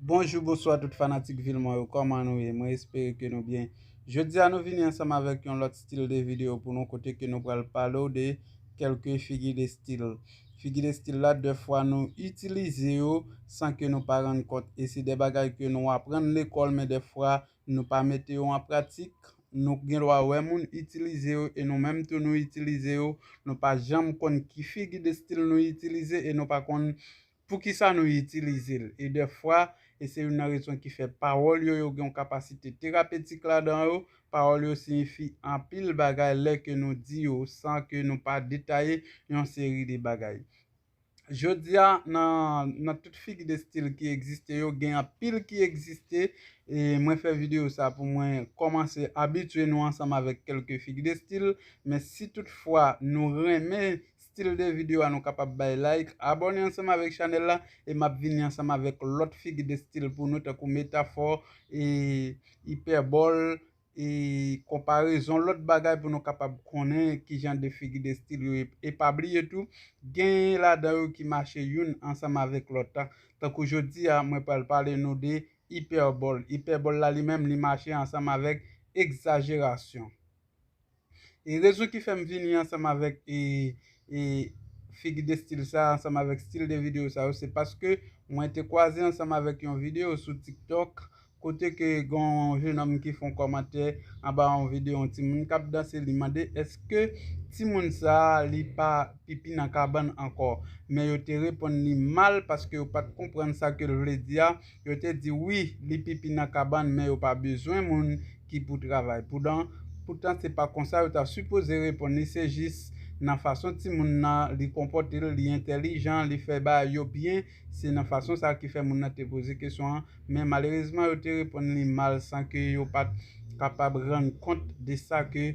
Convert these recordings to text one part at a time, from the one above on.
Bonjou bonswa tout fanatik vil mwen yo kòman nou ye mwen espere ke nou byen jodi a nou vini ansanm avèk yon lòt stil de video pou nou kote ke nou pral pale ou de kelke figi de stil figi de stil la de fwa nou itilize yo san ke nou pa rann kont e se de bagay ke nou aprann lekòl men de fwa nou pa mete yo an pratik nou gen dwa wè moun itilize yo e nou menm tou nou itilize yo nou pa janm konn ki figi de stil nou itilize e nou pa konn Poukisa nou itilize l? E dèfwa, e se youn nan rezon ki fè pawòl yo yo gen yon kapasite terapetik ladan yo, pawòl yo siyifi anpil bagay lè ke nou di yo san ke nou pa detaye yon seri de bagay. Jodi a, nan nan tout figi de stil ki egziste yo, gen anpil ki egziste, e mwen fè videyo sa pou mwen kòmanse abitye nou ansanm avèk kèlke figi de stil, men si tout fwa nou renmen Stil de video a nou kapab bay like, abone ansanm avek chanel la e map vini ansanm avek lot figi de stil pou nou tankou metafò e ipèbòl e konparezon lot bagay pou nou kapab konnen kijan de figi de stil yo ye e pa bliye tou genyen ladan yo ki mache youn ansanm avek lot la tankou jodi a mwen pral pale nou de ipèbòl, ipèbòl la li menm li mache ansanm avek egzajerasyon. E rezon ki fèm vini ansanm avèk figi de stil sa, ansanm avèk stil de video sa yo, se paske mwen te kwaze ansanm avèk yon video sou tiktok, kote ke gen yon jenòm ki fon kòmantè anba yon video yon timoun kap danse li mande eske timoun sa li pa pipi nan kabann ankò, men yo te reponn li mal paske yo pat konprann sa kel vle di a, Yo te di, Wi, li pipi nan kabann, men yo pa bezwen moun ki pou travay. Poudan, poutan se pa konsa yo ta sipoze reponn li, se jis nan fason timoun nan, li konpòte l, li entèlijan, li fè bagay yo byen, se nan fason sa a ki fè moun nan te poze kesyon an, men malerezman yo te reponn li mal san ke yo pa t kapab rann kont de sa ke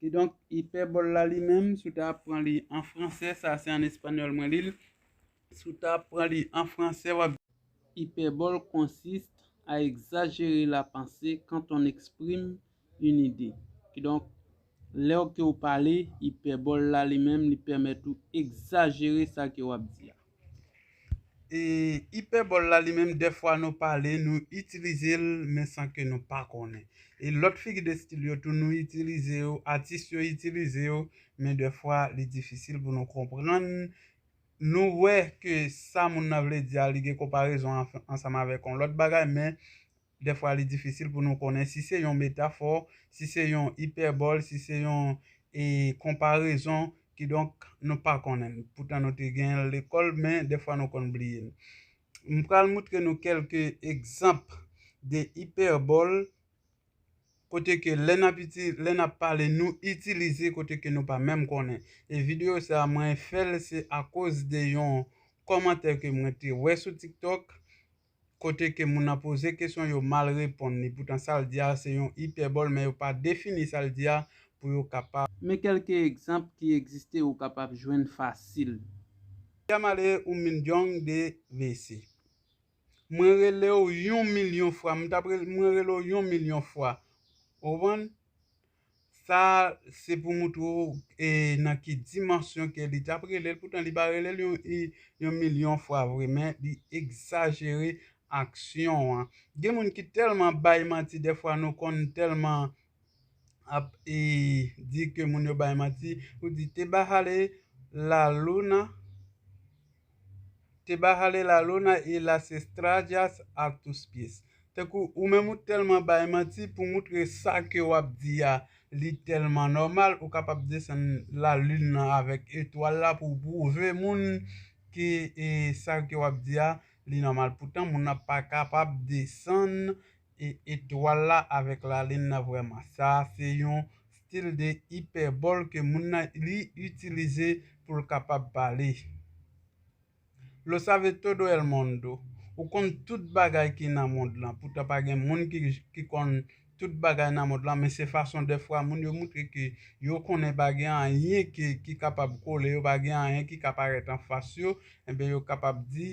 Kidonk, ipèbòl la li menm, si w ta ap pran li an franse, sa se an espanyòl mwen li l, si w ta ap pran li an franse, w ap. Hyperbole consiste à exagérer la pensée quand on exprime une idée. Kidonk, lè w ke w pale, ipèbòl la li menm li pèmèt ou egzajere sa ke w ap di a. E ipèbòl la li menm dèfwa nou pale nou itilize l men san ke nou pa konnen. E lòt figi de stil yo tou nou itilize yo, atis yo itilize yo men dèfwa li difisil pou nou konprann, nou wè ke sa moun nan vle di a li gen konparezon ansanm avèk yon lòt bagay men Dèfwa li difisil pou nou konnen si se yon metafò, si se yon ipèbòl, si se yon konparezon, kidonk nou pa konnen l. Poutan nou te gen l lekòl men dèfwa nou konn bliye l. M pral moutre nou kèlke egzanp de ipèbòl kote ke lè nap lè nap pale nou itilize kote ke nou pa menm konnen. E videyo sa mwen fè l se akoz de yon kòmantè ke mwen te wè sou TikTok kote ke moun nan poze kesyon yo mal reponn li poutan sa l di a se yon ipèbòl men yo pa defini sa l di a pou yo kapab. Men kèlke egzanp ki egziste ou kapab jwenn fasil. Diamale un millón de veces Mwen rele w yon milyon fwa, m t ap rele, mwen rele w yon milyon fwa. Ou konprann? Sa se pou moutre w nan ki dimansyon ke li tap rele l, poutan li pa rele l yon milyon fwa vre men li egzajere aksyon an. Gen moun ki tèlman bay manti dèfwa nou konn tèlman ap di ke moun yo bay manti, ou di te bajale la luna. Te bajale la luna y las estrallas a tus pies tankou ou menm ou tèlman bay manti pou moutre sa ke wap di a li tèlman nòmal ou kapab desann la lune nan avèk etwal la pou w pwouve moun ke sa ke wap di a li nòmal poutan moun nan pa kapab desann e etwal la avèk lalin nan vrèman. Sa a se yon stil de ipèbòl ke moun nan li itilize pou l kapab pale. Lo sabe todo el mondo, Ou konn tout bagay ki nan mond lan. Poutan pa gen moun ki konn tout bagay nan mond lan, men se fason dèfwa moun yo moutre ke yo konnen pa gen anyen ki kapab kole yo, pa gen anyen ki ka parèt anfas yo, enben yo kapab di,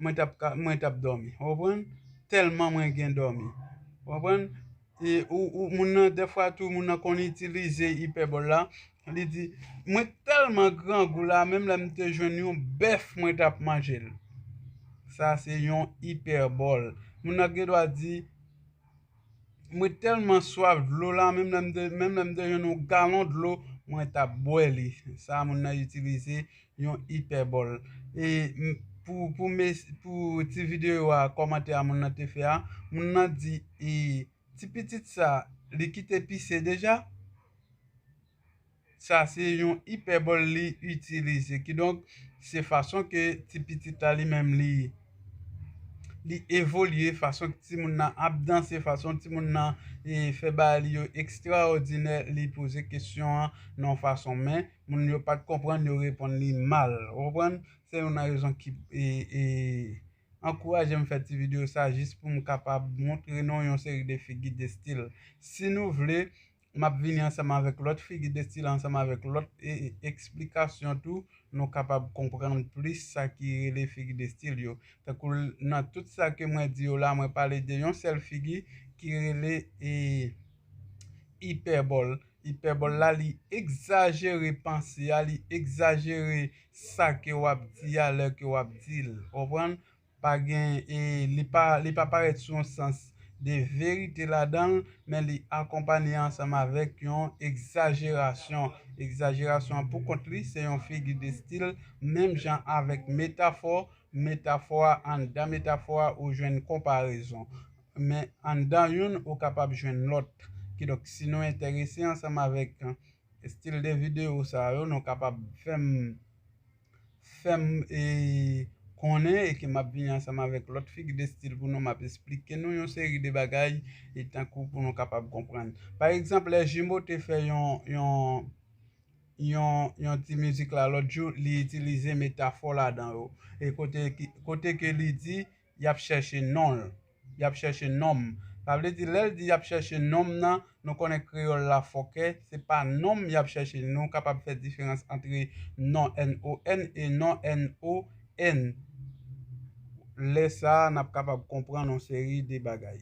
mwen tap ka mwen tap dòmi ou konprann tèlman mwen gen dòmi ou konprann e ou ou moun nan dèfwa tou moun nan konn itilize ipèbòl la li di mwen t tèlman grangou la menm lè m te jwenn yon bèf mwen tap manje l sa se yon ipèbòl moun nan gendwa di Mwen tèlman swaf dlo la, menm lè m te menm lè m te jwenn yon galon dlo, mwen t ap bwè li. Sa moun nan itilize yon ipèbòl. E pou pou mes pou ti videyo a kòmantè a moun nan te fè a, moun nan di e ti pitit sa li kite pise deja? Sa se yon ipèbòl li itilize. Kidonk, se fason ke ti pitit la li menm li li evolye, fason ke ti moun nan ap danse, fason ti moun nan fè bagay li yo ekstraòdinè, li poze kesyon an nan yon fason. Men, moun yo pa t konprann, yo reponn li mal. Ou konprann? Se youn nan rezon ki ankouraje m fè ti videyo sa, jis pou m kapab montre nou yon seri de figi, de stil. Si nou vle, M ap vini ansanm avèk lòt figi de stil ansanm avèk lòt eksplikasyon tou nou kapab konprann plis sa ki rele figi de stil yo. Tankou nan tout sa ke mwen di yo la mwen pale de yon sèl figi ki rele ipèbòl. Ipèbòl la li egzajere panse a, li egzajere sa ke w ap di a lè ke w ap di l. Konprann? Pa gen e li pa li pa parèt sou yon sans de verite ladan l, men li akonpanye ansanm avèk yon egzajerasyon. Egzajerasyon an pou kont li se yon figi de stil menm jan avèk metafò, metafò a anndan metafò a ou jwenn konparezon. Men anndan youn ou kapab jwenn lòt. Kidonk si nou enterese ansanm avèk stil de videyo sa yo nou kapab fè m. fè m e konnen e ke m ap vini ansanm avèk lòt figi de stil pou nou m ap esplike nou yon seri de bagay e tankou pou nou kapab konprann. Pa egzanp lè Jimo te fè yon yon yon yon ti mizik la lòt jou li itilize metafò ladan yo e kote kote ke li di yap chèche non l, yap chèche non m. Sa vle di lè l di yap chèche non m nan, nou konnen kreyòl la fòkè, se pa non m yap chèche, nou kapab fè diferans antre non, n-o-n, e non, n-o-n. Lè sa a, n ap kapab konprann yon seri de bagay.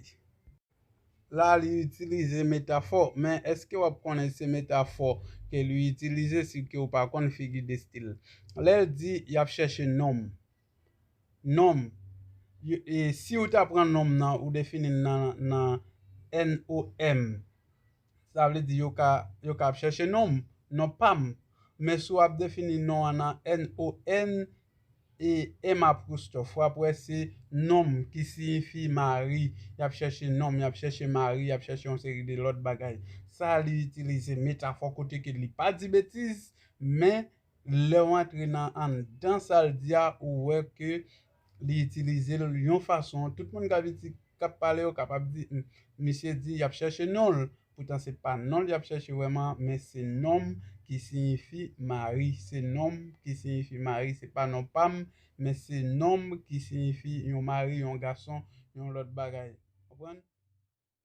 La a li itilize metafò, men èske w ap konnen se metafò ke li itilize si ke w pa konn figi de stil? Lè l di yap chèche non m, Nom, e si ou ta pran nom nan ou defini l nan NOM, sa vle di yo ka yo ka ap chèche nom, non pa m. Men si w ap defini non an nan NON e M apwostòf, w ap wè se nom ki siyifi mari, y ap chèche nom, y ap chèche mari, y ap chèche yon seri de lòt bagay. Sa li itilize metafò kote ke li pa di betiz, men Lèw antre nan anndan sal di a ou wè ke li itilizel yon fason tout moun kap iti kap pale yo kapab di humm misye di yap chèche nonl poutan se pa nonl yap chèche wèman men se nom ki siyifi mari se nom ki siyifi mari se pa non pam men se nom ki siyifi yon mari yon gason yon lòt bagay konprann.